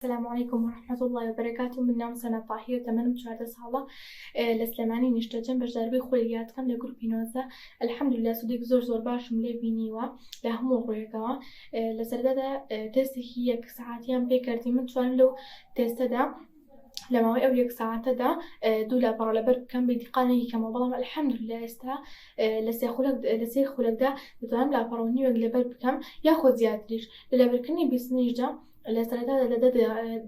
سلام علیکم ورحمت اللە وبرکاته من ناوم سەنا تاهیر تەمەنم چواردە ساڵە لە سلێمانی نیشتەجێم بەشداربووی خولیاتکەم لە گروپی نۆزدە الحمدللە سودێکی زۆر زۆر باشم لێ بینیوە لە هەموو ڕوویەکەوە لە سەردادا تێستێکی یەک سەعاتیان پێ کردی من توانم لەو تێستەدا لە ماوەی ئەو یەک ساعتەدا دوو لاپەڕە لەبەر بکەم بە دیقانێکی کەمەوە بەڵام الحمدللە ئێستا لە سێ خولەک لە سێ خولەکدا دەتوانم لاپەڕەوە نیوێک لەبەر بکەم یاخۆ زیاتریش لە لەبەرکردنی بیستنیشدا لە سەرەتادا لە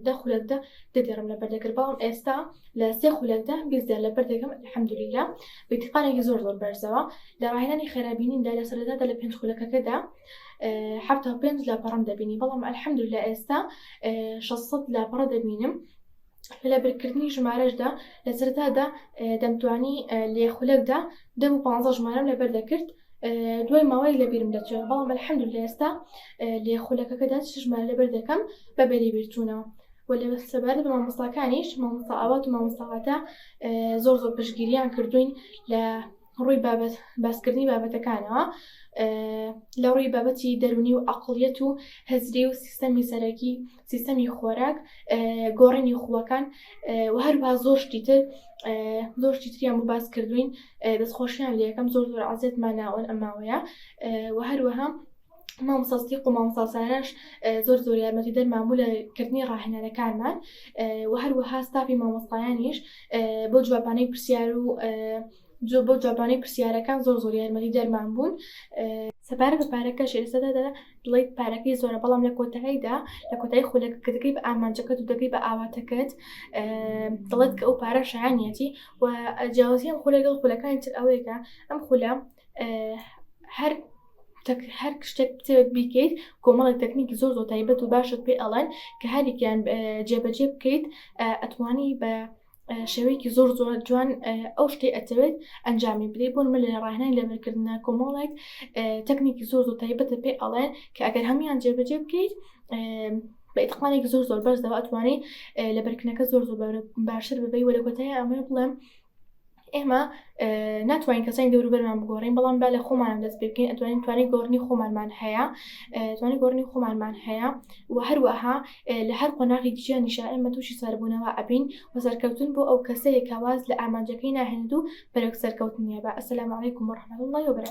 دە خولەکدا دەگەڕم لە بەردەکرد بەڵام ئێستا لە سێ خولەکدا بیزدار لە بەردەکەم الحمدللە بەتیقانێکی زۆر زۆر بەرزەوە لە ڕاهێنانی خێرابینیدا لە سەرەتادا لە پێنج خولەکەکەدا حتا پێنج لاپەڕەم دەبینی بەڵام الحمدللە ئێستا 600 لاپەڕە دەبینم لە لەبرکردنی ژمارەشدا لە سەرەتادا دەمتوانی لە خولەکدا دە بۆ پانزە ژمارەم لەبەر دەکرد دوای ماوەی لەبیرم دەچێت بەڵام الحەمدللە ئێستا لە خولەکەکەدا چ ژمارە لەبەر دەکەم بە بەری بیرچوونەوە و لە سەبارەت بە مامۆستاکانیش مامۆستا ئاوات و مامۆستاواتە زۆر زۆر پشگیریان کردوین لە ڕووی بابەت، باسکردنی بابەتەکانەوە لە ڕووی بابەتی دەروونی و عەقڵیەت و هزری و سیستەمی سەرەکی سیستەمی خۆراک گۆڕینی خووەکان و هەروها زۆر شتی تر زۆر شتی تریان بۆ باس کردوین دەستخۆشیان لە یەکەم زۆر زۆر عزیەتماناوەن ئەماوەیە و هەروەها مامۆستا سدیق و مامۆستا ساراش زۆر زۆر یارمەتیدەرمان بوو لە کردنی ڕاهێنەرەکانمان و هەروەها ستافی مامۆستایانیش بۆ جوابانەی پرسیار و جۆ بۆ جوابانەی پرسیارەکان زۆر زۆر یارمەتی دەرمان بوون سەبارە بە پارەکە شێرسەدەدا دڵیت پارەکەی زۆرە بەڵام لە کۆتاییدا لە کۆتایی خولەکەکەتەکەی بە ئامانجەکەت و دەکەی بە ئاواتەکەت دڵێت کە ئەو پارە شایانەتی و جیاوازیان خولەگەڵ خولەکانی تر ئەوەیەکە ئەم خولە هەر هەر شتێک بتێت بیکەیت کۆمەڵی تەکنیکی زۆر زۆر تایبەت و باشت پێ ئەڵێن کە هەریان جێبەجێ بکەیت ئەتوانی بە شێوەیەکی زۆر زۆر جوان ئەو شتی ئەتەوێت ئەنجامی بلی بۆن من لە ڕاهنای لەبەرکردە کۆمەڵێک تەکنیکی زۆر زۆر تایبەتە پێ ئەڵێ کە ئەگەر هەمویان جێبەجێ بکەیت بە ئتقانێک زۆر زۆر بەرزەوە ئەتوانانی لە بەرکنەکە زۆر زۆر باشتر ببی وە لە کۆتای ئەمە بڵێم ئێمە ناتوانین کەسانی دەوروبەرمان بگۆڕین بەڵام با لە خۆمانم دەست بکەین ئەتوانین توانی گۆڕنی خۆمانمان هەیە توانی گۆڕنی خۆمانمان هەیە و هەروەها لە هەر قۆناغی دیژیانی شائمە تووشی سەربوونەوە ئەبین و سەرکەوتن بۆ ئەو کەسەیە کەواز لە ئامانجەکەی ناهێنێت و بەرەک سەرکەوتنیە بە ئەسلام عیکم و ڕحمە الله و برا